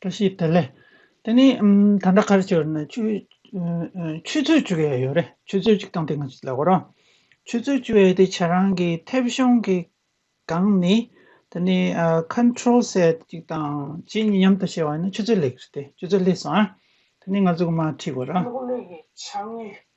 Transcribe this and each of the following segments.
བཀྲ་ཤིས་བདེ་ལེགས། དེ་ནི་ད་ལྟ་ཁར་ཆུ་ནི་ཆུ། ཆུ་ཚོད་བཅུ་བའི་ཡོད་རེད་ཆུ་ཚོད་བཅུ་དང་དེ་སྔ་ཆུ་ལ་གོ་རང། ཆུ་ཚོད་བཅུ་བའི་དེ་བྱ་རང་གི་མཐེབ་གཞོང་གི། སྒང་ནི་དེ་ནི Control ཟེར་གཅིག་དང་གཅིག་གཉིས་མཉམ་དུ་བྱས་བ་ནི་ཆུ་ཚོད་ལེགས་རེད་དེ་ཆུ་ཚོད་ལེགས་སོང་ཨ། དེ་ནི་ང་ཚོ་གོ་མ་ཁྲིད་གོ་རང། ལྷོ་ཀླུང་གླིང་གི་བྱ་དངོས་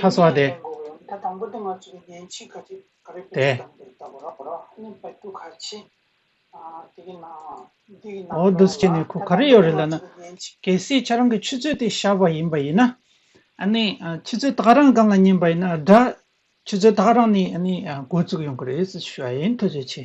ཐ་སོ་ཏེ། འོ་འདུ་བྱེད་ནི་ཁུ་ག་རེ་ཡོད་རེད་ལ་ན། གལ་སྲིད་ཁྱེད་རང་གི་ཆུ་ཚོད་དེ་ཤར་བ་ཡིན་པ་ཡིན་ན། ནི། ཆུ་ཚོད་ད་ག་རང་གང་ལ་ཉན་པ་ཡིན་ན་དགྲ། ཆུ་ཚོད་ད་ག་རང་ནི་ནི་འགོ་བཙུགས་ཡོང་གི་རེད་ཟེར་ཞུ་བ་ཡིན་ཐུགས་རྗེ་ཆེ།